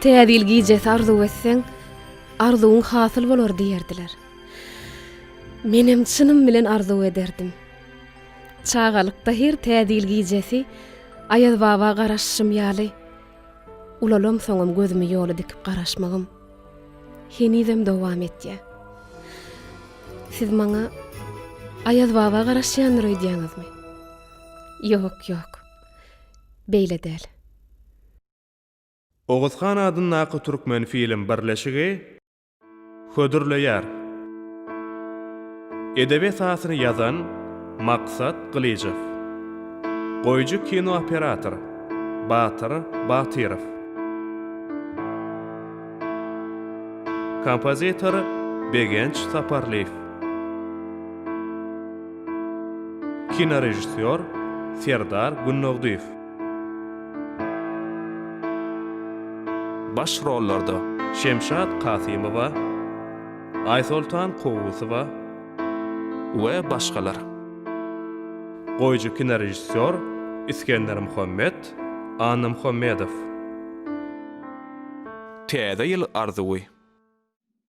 Täze ýyl gijesi arzuw etseň, arzuwyň hasyl bolar diýerdiler. Menem çynym bilen arzuw ederdim. Çagalykda her Täze ýyl gijesi Aýazbaba garaşyşym ýaly, ulalamsoňam gözümi ýola dikip garaşmagym henizem dowam etýär. Siz maňa Aýazbaba garaşýandyr öýdýäňizmi? Ýok, ýok. Beýle däl. Oguzhan adyndaky Türkmenfilm birleşigi hödürleýär. Edebi esasyny ýazan, Maksat Gylyjow. Goýujy kinooperator, Batyr Batyrow. Kompozitor, Begenç Saparlyýew. Kinorežissýor, Serdar Gündogdyýew. Baş rollarda, Şemşat Kasymowa, Aýsoltan Kowusowa we başgalar. Goýujy kinorežissýor, Isgender Muhammet Annamuhammedow. Täze ýyl arzuwy.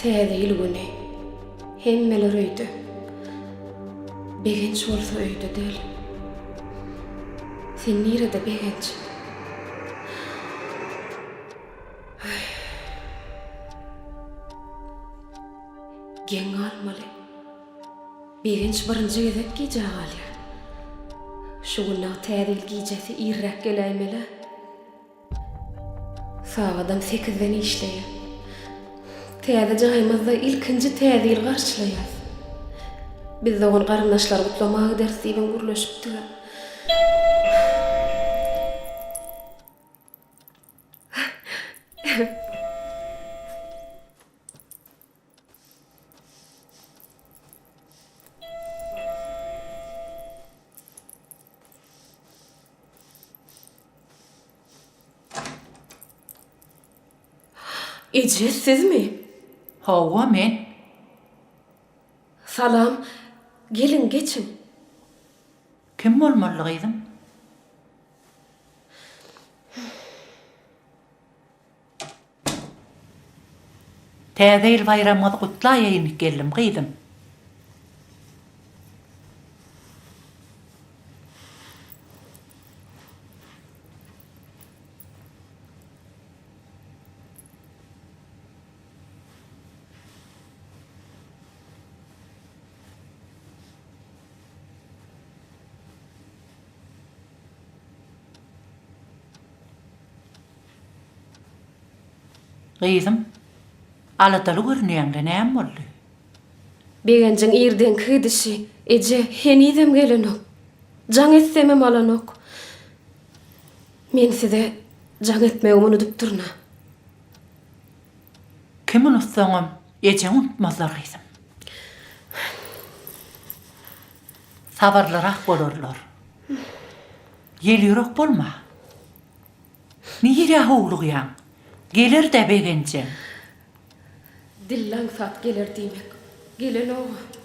Täze ýyl güni hemmeler öýde. Begenç bolsa öýde däl. Sen nirede, Begenç? Geň galmaly. Begenç birinji gezek gijä galýar. Şu günde-ä Täze ýyl gijesi irräk geläýmeli-ä. Sagadam sekizden işleýär. Täze jaýymyzda ilkinji Täze ýyly garşylaýarys. Biz dogan-garyndaşlary gutlamaga gideris diýibem gürleşipdik-ä. Eje, sizmi? Hawa, men. Salam. Geliň, geçiň. Kim bolmaly, gyzym? Täze ýyl baýramyňyzy gutlaýaýyn gelnim gyzym. Gyzym, aladaly görünýäň-le, näme boldy? Begenjiň irdenki gidişi, eje, henizem gelenok. Jaň etsemem alanok. Men size jaň etmegimi unudypdyryn-a. Kim unutsaňam, ejeň unutmazlar, gyzym. Sabyrlyrak bolarlar. Ýelýürek bolma. Nirä howlugýaň? Geler-dä begenjem. Dille aňsat geler diýmek, gelenok-a.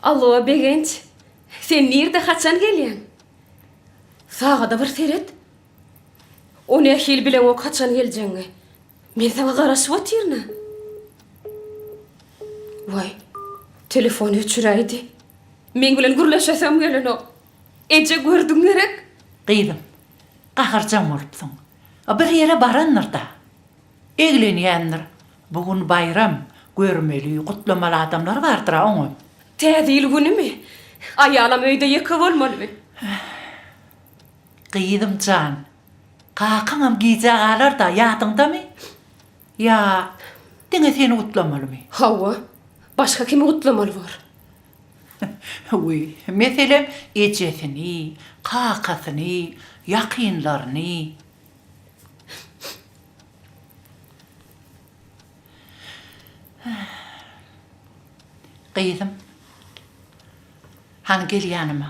Allo, Begenç. Sen nirde haçan gelýäň? Sagada bir seret. O nähili bileňok haçan geljegiňi. Men saňa garaşyp otyryn-a. Waý, telefony öçüräýdi. Meň bilen gürleşesem gelenok. Eje, gördüň gerek? Gyzym, gaharjaň bolupsyň. A bir ýere barandyr-da. Eglenýändir. Bu gün baýram, görmeli, gutlamaly adamlar bardyr-a oňam. Täze ýyl günümi? Aýalam öýde ýeke bolmalymy? Gyzym jan, Kakaňam gijä galar-da, ýadyňdamy? Ýa, diňe seni gutlamalymy? Hawa, başga kimi gutlamaly bor? Wiý, meselem, ejesini, kakasyny, ýakynlaryny. Gyzym, hany gel ýanyma.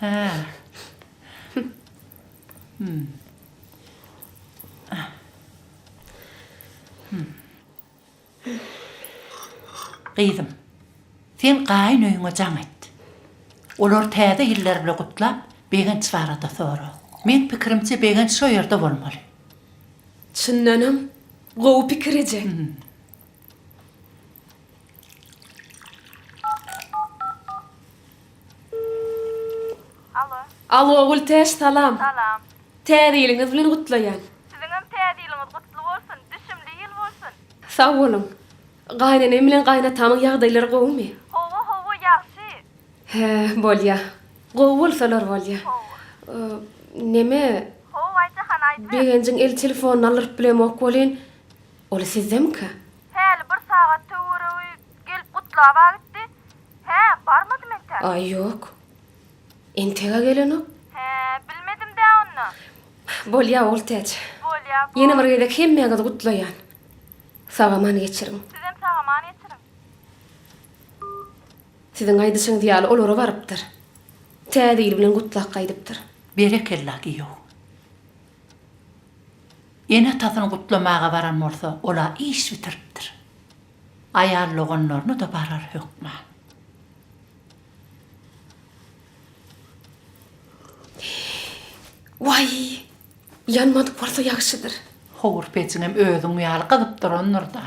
Hä. Hmm. Ah. Hmm. Gyzym, sen gaýyn öýüňe jaň et. Olary täze ýyllar bilen gutlap, Begenç barada sora. Meň pikirimçe Begenç şo ýerde bolmaly. Çyndanam, gowy pikir eje. Alo. Alo Gültäç salam. Salam. Täze ýylyňyz bilen gutlaýan. Siziňem täze ýylyňyz gutly bolsun, düşümli ýyl bolsun. Sag boluň. Gaýnenem bilen gaýnatamyň ýagdaýlary gowumy? Howa howa ýagşy. Hä bolýa. Gowy bolsalar bolýa. Neme. How aýtjahan aýdyber. Begenjiň el telefonyny aldyryp bilemok welin Ol sizdemika? Häli bir sagat töweregi gelip gutlaba gitdi. Hä, barmadym entäk. Aý, ýok. Entek-ä gelenok. Hä, bilmedim-dä onda. Bolýa, Oltäç. Bolýa, bol. Ýene bir gezek hemmäňizi gutlaýan. Sag-aman geçiriň. Sizem sag-aman geçiriň. Siziň aýdyşyňyz ýaly olara barypdyr. Täze ýyl bilen gutlap gaýdypdyr. Berekella giýew. Ene-atasyny gutlamaga baran bolsa, ol-a iş bitiripdir. Aýal doganlaryna-da barar hökman. Waý, ýanmadyk bolsa ýagşydyr. Howur pejiňem özüň ýaly gyzyp durandyr-da.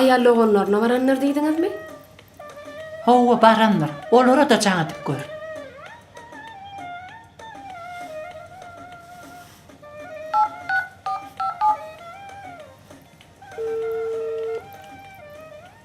Aýal doganlaryna barandyr diýdiňizmi? Hawa, barandyr. Olara-da jaň edip gör.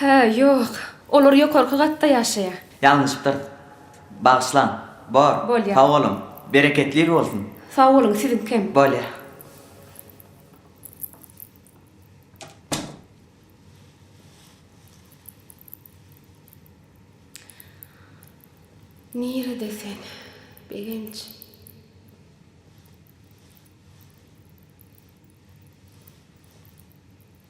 Hä, ýok. Olar ýokarky gatda ýaşaýar. Ýalňyşypdyr. Bagyşlaň. Bor. Bolýar. Sag boluň. Bereketli bolsun. Sag boluň, siziňkem. Bolýar. Nirede sen, Begenç?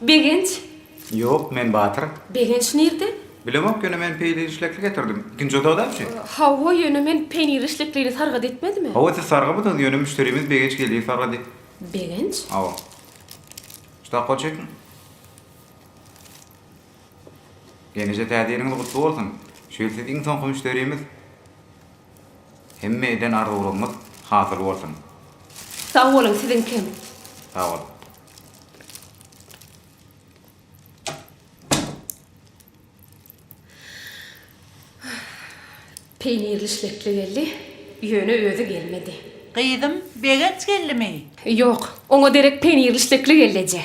Begenç. Ýok, men Batyr. Begenç nirde? Bilemok, ýöne men peýnir işlekli getirdim. Ikinji otagdamçy? Hawa, ýöne men peýnir işleklini sargat etmedim-ä. Hawa, siz sargamydyňyz, ýöne müşderimiz Begenç geldi, sargady. Begenç? Hawa. Usta gol çekiň. Ýeneje täze ýeriňiz gutly bolsun. Şu ýyl siz iň soňky müşderimiz. Hemme eden arzuwlarňyz hasyl bolsun. Sag boluň siziň kem. Sag bol. Peýnirli şlekli geldi, ýöne özi gelmedi. Gyzym, Begenç geldimi? Ýok, oňa derek peýnirli şlekli geldi eje.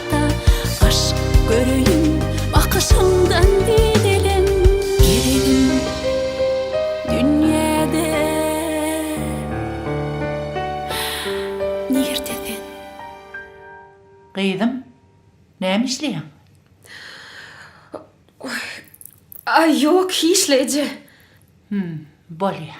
Gyzym, näme işleýäň? Aý, ýok, hiç-le, eje. Hüm, bolýar.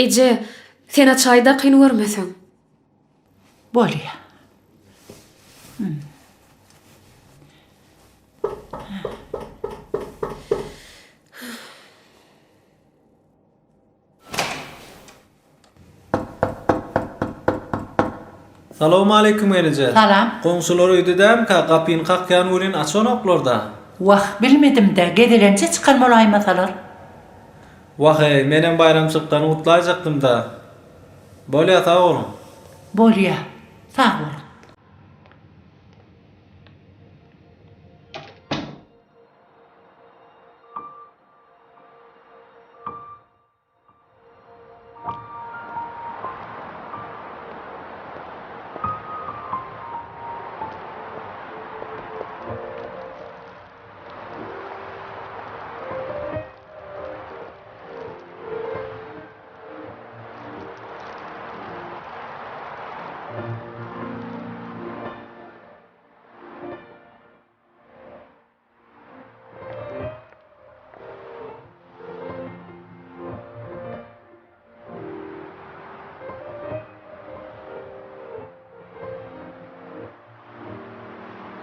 Eje, sen-ä çaý dakyn görmeseň. Bolýa. Salowmaleýkim gelije. Salam. Goňşular öýdedämka, gapyny kakýan welin açanoklar-da. Wah, bilmedim-dä, gezelenje çykan bolaýmasalar. Wah-eý, menem baýramçylyklarny gutlaýjakdym-da. Bolýa sag boluň. Bolýa sag boluň.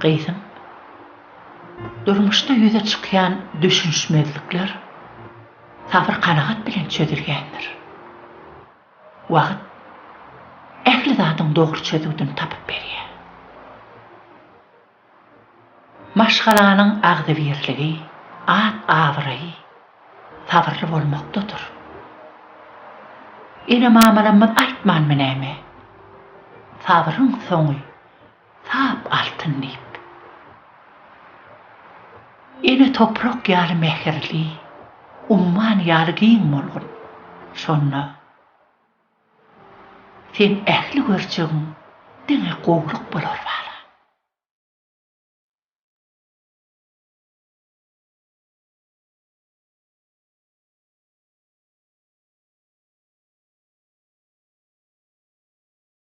Gyzyň, durmuşda ýüze çykýan düşünişmezlikler. Sabyr-kanagat bilen çözülýändir. Wagt ähli zadyň dogry çözüwdini tapyp berýär. Maşgalanyň agzybirligi, at-abraýy sabyrly bolmakdadyr. Ene-mamalarymyz aýtmanmy näme? Sabryň soňy Sap altyn diýip. Ene toprak ýaly mähirli, umman ýaly giň bolgun. Şonda Seň ähli görjegiň diňe gowluk bolar bala.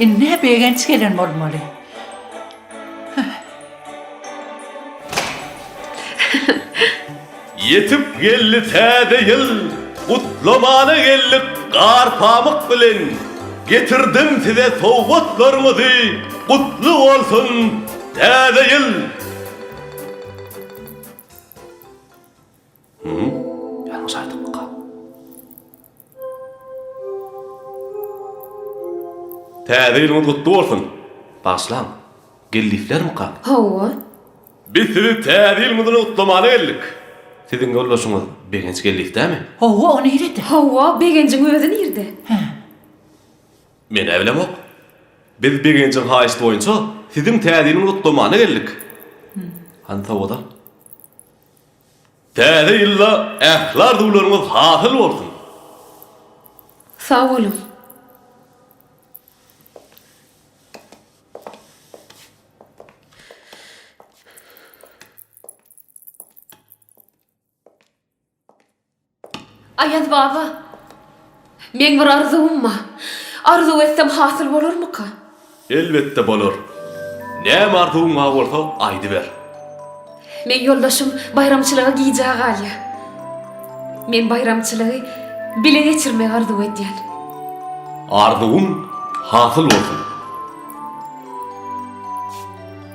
Indi-hä Begenç gelen bolmaly. Ýetip geldi täze ýyl! Gutlamana geldik gar-pamyk bilen. Getirdim size sowgatlarymyzy, gutly bolsun Täze ýyl! Täze ýylyňyz gutly bolsun! Bagşlaň, geldiklermika? Hawa. Biz sizi Täze ýyl bilen gutlamana geldik. Siziň ýoldaşyňyz Begenç geldikdämi? Hawa, o nirede? Hawa, Begenjiň özi nirede? Hä. Men-ä bilemok. Biz Begenjiň haýyşty boýunça siziň Täze ýyl bilen gutlamana geldik. Hany sowgat al. Täze ýylda ähli arzuwlaryňyz hasyl bolsun! Sag boluň! Aýaz baba, meň bir arzuwym bar. Arzuw etsem hasyl bolarmyka? Elbetde bolar. Näme arzuwyň bar bolsa aýdyber. Meň ýoldaşym baýramçylyga gijä galýar. Men baýramçylygy bile geçirmegi arzuw edýän. Arzuwyň hasyl bolsun.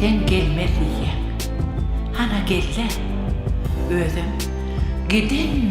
Sen gelme diýýäň. Hana gel-le. Özem giden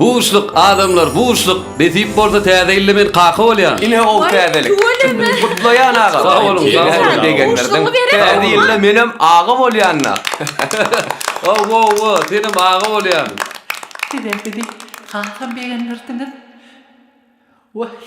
Buşluk adamlar buşluk nesip bolsa täze ýylda men kaka bolýan. Ine ol täzelik. Gutlaýan agam. Sag boluň sag boluň degenlerden. Täze ýylda menem aga bolýanyna. Wow wow wow senem aga bolýan. Sizem bizi hasam begendirdiňiz. Wahh.